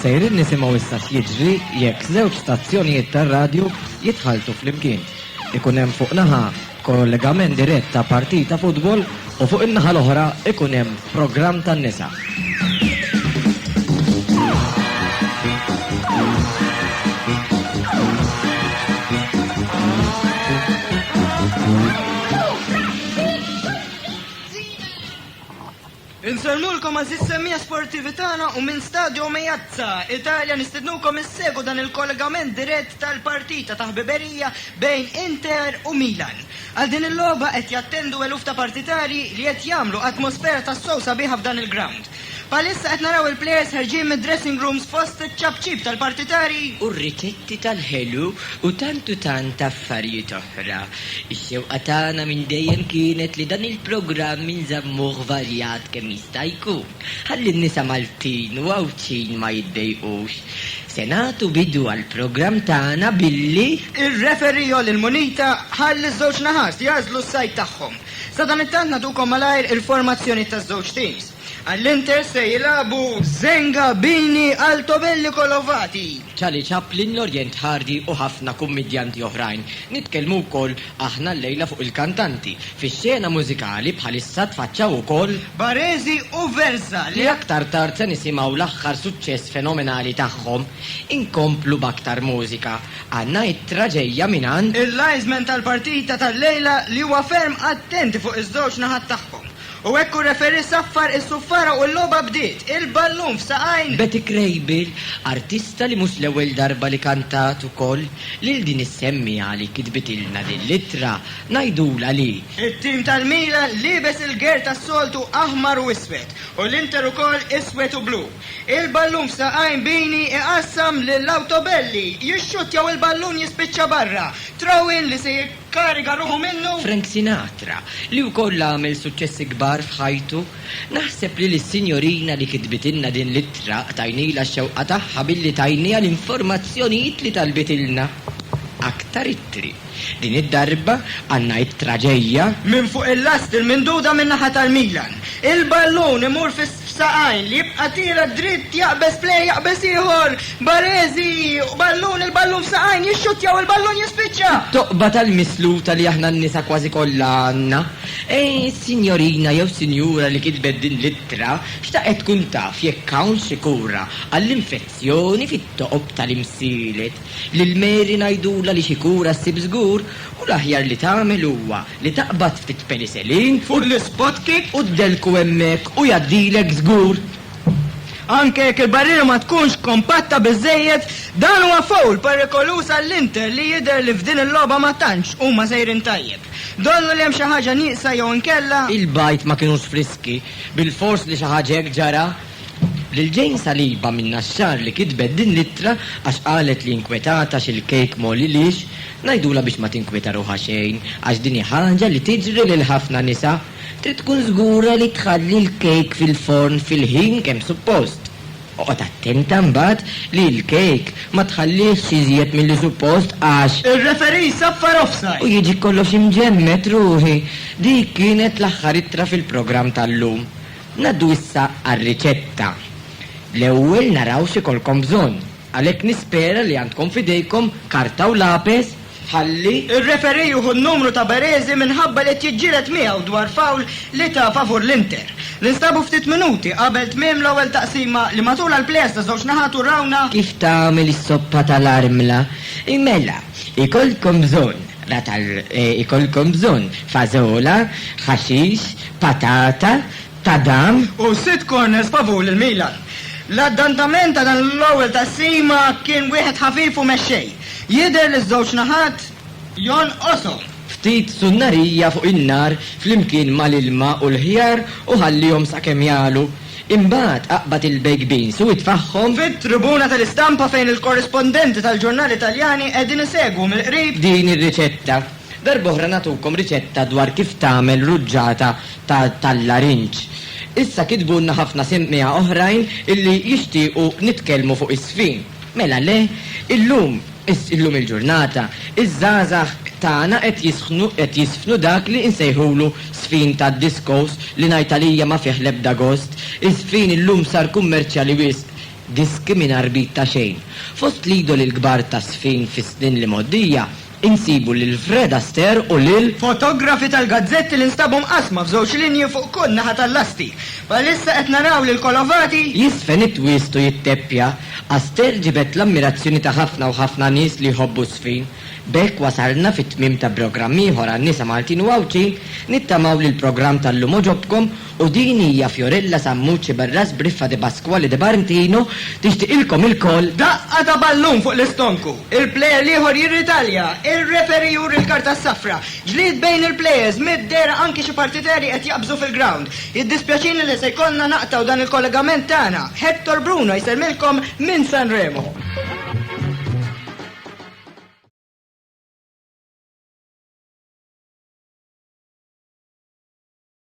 Sejrin nisimgħu issa x'jiġri jekk żewġ stazzjonijiet tar-radju jitħaltu flimkien. Ikun hemm fuq naħa kollegament dirett ta' partita futbol u fuq in-naħa l-oħra ikun hemm programm tan-nisa. Insernulkom għażiż semmiegħa sportivi tagħna u minn Stadio Meazza, Italja nistednukom issegwu dan il-kollegament dirett tal-partita ta' ħbiberija bejn Inter u Milan. Għal din il-logħba qed jattendu eluf ta' partitarji li qed jagħmlu atmosfera tassew sabiħa f'dan il-grawnd. Bħalissa qed naraw il-plejers ħerġin mid-dressing rooms fost iċ-ċapċip tal-partitari u r-ritetti tal-ħelu u tant u tant affarijiet oħra. Ix-xewqa tagħna minn dejjem kienet li dan il-programm inżammuh varjat kemm jista' jkun, ħalli n-nisa Maltin u Għawdxin ma jiddejqux. Se nagħtu bidu għall-programm tagħna billi. Ir-referee Jolly l-Munita ħalli ż-żewġ naħat jagħżlu s-side tagħhom. Sadanittant nagħtukom malajr il-formazzjoni taż-żewġ teams. Għall-Inter se jilagħbu Zenga, Bini, Altobelli, Kolovati. Charlie Chaplin, Lorient Hardy u ħafna kummidjanti oħrajn. Nitkellmu wkoll aħna llejla fuq il-kantanti. Fix-xena mużikali bħalissa tfaċċaw ukoll. Baresi u Versa li. Li aktar tard se nisimgħu l-aħħar suċċess fenomenali tagħhom. Inkomplu b'aktar mużika. Għandna ittra ġejja mingħand. Il-linesman tal-partita tal-lejla li huwa ferm attenti fuq iż-żewġ naħat tagħhom. U hekk hu referee saffar is-suffara u l-logħba bdiet, il-ballun f'saqajn. Betty Krejbil, artista li mhux l-ewwel darba li kantat ukoll lil din is-semmiegħa li kitbitilna din l-ittra, ngħidulha li. It-tim tal-Milan liebes il-gear tas-soltu aħmar u iswed, u l-Inter ukoll iswed u blu. Il-ballun f'saqajn Bini iqassam lil Autobelli, jixxuttja u l-ballun jispiċċa barra. Throw-in li se jikkariga ruħu minnu. Frank Sinatra, li wkoll għamel suċċessi kbar f'ħajtu. Naħseb li lis-Sinjorina li kitbitilna din l-ittra qtajnilha x-xewqa tagħha billi tajniha l-informazzjonijiet li talbitilna. Aktar ittri. Din id-darba għal ngħid traġejja. Minn fuq il-lasti l-minduda min-naħa tal-Milan. Il-ballun imur f'saqajn li jibqa' tielet dritt jaqbeż play jaqbeż ieħor Baresi u ballun il-ballun f'saqajn jixxuttja u l-ballun jispiċċa. It-toqba tal-misluta li aħna n-nisa kważi kollha għandna. Ejn is-sinjorina jew sinjura li kitbet din l-ittra xtaqet tkun taf jekk hawn xi kura għall-infezzjoni fit-toqob tal-imsielet. Lil Mary ngħidulha li xi kura ssib żgur u l-aħjar li tagħmel huwa li taqbad ftit peniselin fuq l-ispotkek u ddelku hemmhekk u jgħaddilek żgur. Anke jekk il-barriera ma tkunx kompatta biżżejjed, dan huwa foul perikoluż għall-Inter li jidher li f'din il-logħba ma tantx huma sejrin tajjeb. Donnu li hemm xi ħaġa nieqsa jew inkella? Il-bajd ma kinux friski, bilfors li xi ħaġa hekk ġara. Lil Jane Saliba minn Naxxar li kitbet din l-ittra għax qalet li inkwetata xi l-kejk ma għolilhiex, ngħidulha biex ma tinkwieta ruħha xejn għax din hi ħaġa li tiġri lil ħafna nisa, trid tkun żgura li tħalli l-kejk fil-forn fil-ħin kemm suppost. Oqgħod attenta mbagħad li l-kejk ma tħallihx iżjed milli suppost għax. Ir-referee jsaffar offside. U jiġi kollox imġemmed, ruħi. Dik kienet l-aħħar ittra fil-programm tal-lum. Ngħaddu issa għar-riċetta. L-ewwel naraw x'ikollkom bżonn. Għalhekk nispera li għandkom f'idejkom karta u lapes ħalli. Ir-referee jieħu n-numru ta' Baresi minħabba li qed jiġġieled miegħu dwar foul li ta favur l-Inter. Ninstabu ftit minuti qabel tmiem l-ewwel taqsima li matulha l-plejers ta' żewġ naħat urawna. Kif tagħmel is-soppa tal-armla. Mela, ikollkom bżonn, rat għal, ikollkom bżonn fażola, ħaxix, patata, tadam. U sitt corners favur lil Milan. L-addantament ta' dan l-ewwel taqsima kien wieħed ħafif u mexxej. Jidher li ż-żewġ naħat jonqoshom. Ftit sunnarija fuq in-nar flimkien mal-ilma u l-ħjar u ħallihom sakemm jagħlu. Imbagħad aqbad il-baked beans u itfagħhom. Fit-tribuna tal-istampa fejn il-korrispondenti tal-ġurnali Taljani qegħdin isegwu mill-qrib. Din ir-riċetta. Darb'oħra nagħtukom riċetta dwar kif tagħmel ruġġata ta' tal-larinġ. Issa kitbulna ħafna semmiegħa oħrajn illi jixtiequ nitkellmu fuq is-sfin. Mela le? Illum, illum il-ġurnata, iż-żgħażagħ tagħna qed jisħnu, qed jisfnu dak li insejħulu sfin tad-diskos li ngħid għalija ma fih l-ebda gost. Is-sfin illum sar kummerċjali wisq. Diski mingħajr bid ta' xejn. Fost l-idoli l-kbar tas-sfin fis-snin l-imgħoddija, Insibu lil Fred Astaire u lil. Fotografi tal-gazzetti li nstabu mqassma f'żewġ linji fuq kull naħa tal-lasti. Bħalissa qed naraw lil Colovati. Jiżfen it-twist u jitteppja. Astaire ġibed l-ammirazzjoni ta' ħafna u ħafna nies li jħobbu ż-żfin. B'hekk wasalna fit-tmiem ta' brogramm ieħor għan-nisa Maltin u Għawdxin. Nittamaw li l-programm tal-lum għoġobkom U din hija Fiorella Sammucci Barras b'Riffa Di Pasquale Di Barntino tixtiqilkom ilkoll. Daqqa ta' ballun fuq l-istonku, il-plejer l-ieħor jirritalja, ir-referee juri l-karta s-safra, ġlied bejn il-plejers, mid-dehra anki xi partiteri qed jaqbżu fil-grawnd. Jiddispjaċini li se jkollna naqtgħu dan il-kollegament tagħna. Hector Bruno jsellmilkom minn San Remo.